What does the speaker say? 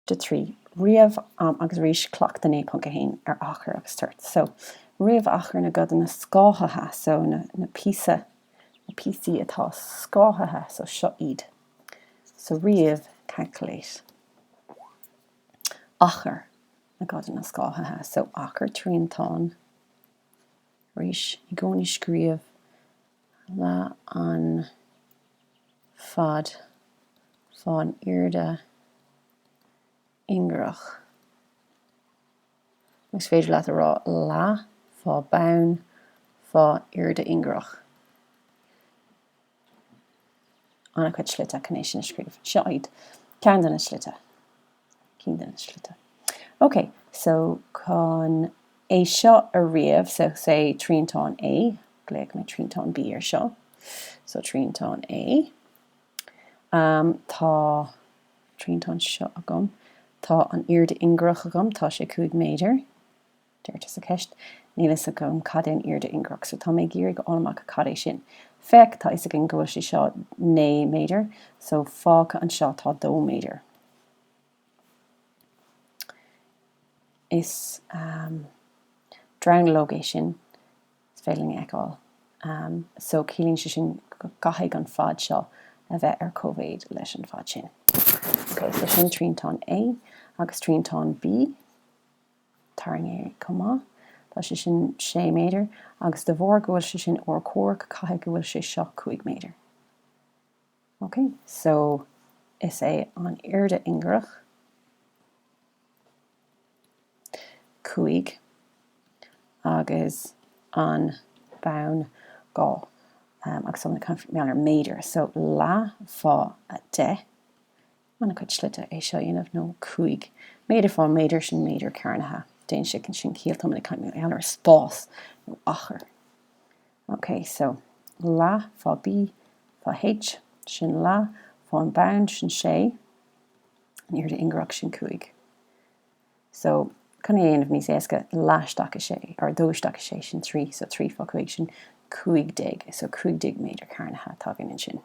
de trí ríomh am agus arís cleachtadh 9.1 ar achar agus toirt so ríomh achar na gcodanna scáthaithe so na na píosa na píosaí atá scáthaithe so seo iad so ríomh calculate achar na gcodanna scáthaithe so achar triantán Arís, i gcónaí scríobh leath an fad fán airde ingearach, nó is féidir leat a rá leath fá bonn fá airde ingearach. an-chuid slite chun é sin a scríobh. Seo iad ceann de na slite, cinn de na slite. Ok, so chun é seo a ríomh, so say triantán A, glaofaidh mé triantán B ar seo, so triantán A, um tá triantán seo agam, tá an airde ingearach agam, tá sé 5 méadar, Deirtear sa cheist, Níl fhios agam cad é an airde ingearach, so tá mé ag iarraidh a fháil amach cad é sin. Féach, tá fhios againn go bhfuil sé seo 9 méadar, so fágtha anseo tá 2 méadar. Is dronuilleog é sin, is féidir linn a fheiceáil, so ciallaíonn sé sin go gcaithfidh an fad seo a bheith ar cóimhéid leis an bhfad sin. Ok, so sin triantán A agus triantán B. tarraingthe chomh maith. Tá sé sin 6 méadar agus de bharr go bhfuil sé sin urchomhaireach caithfidh go bhfuil sé seo 5 méadar. Ok, so is é an airde ingearach 5 agus an bonn 2 agus tá mé ag caint mar gheall ar méadar, so leath fá 10. an-chuid slite é seo a dhéanamh nó cúig méadar fá méadar sin méadar cearnaithe déanann sé sin ciall tá mé ag caint mar gheall ar spás nó achar ok so leath fá B fá H sin leath fá an bonn sin sé an airde ingearach sin cúig so chun é a dhéanamh níos éasca leath isteach i sé or dó isteach i sé sin trí so trí fá cúig sin cúig déag so cúig déag méadar cearnaithe atá againn ansin.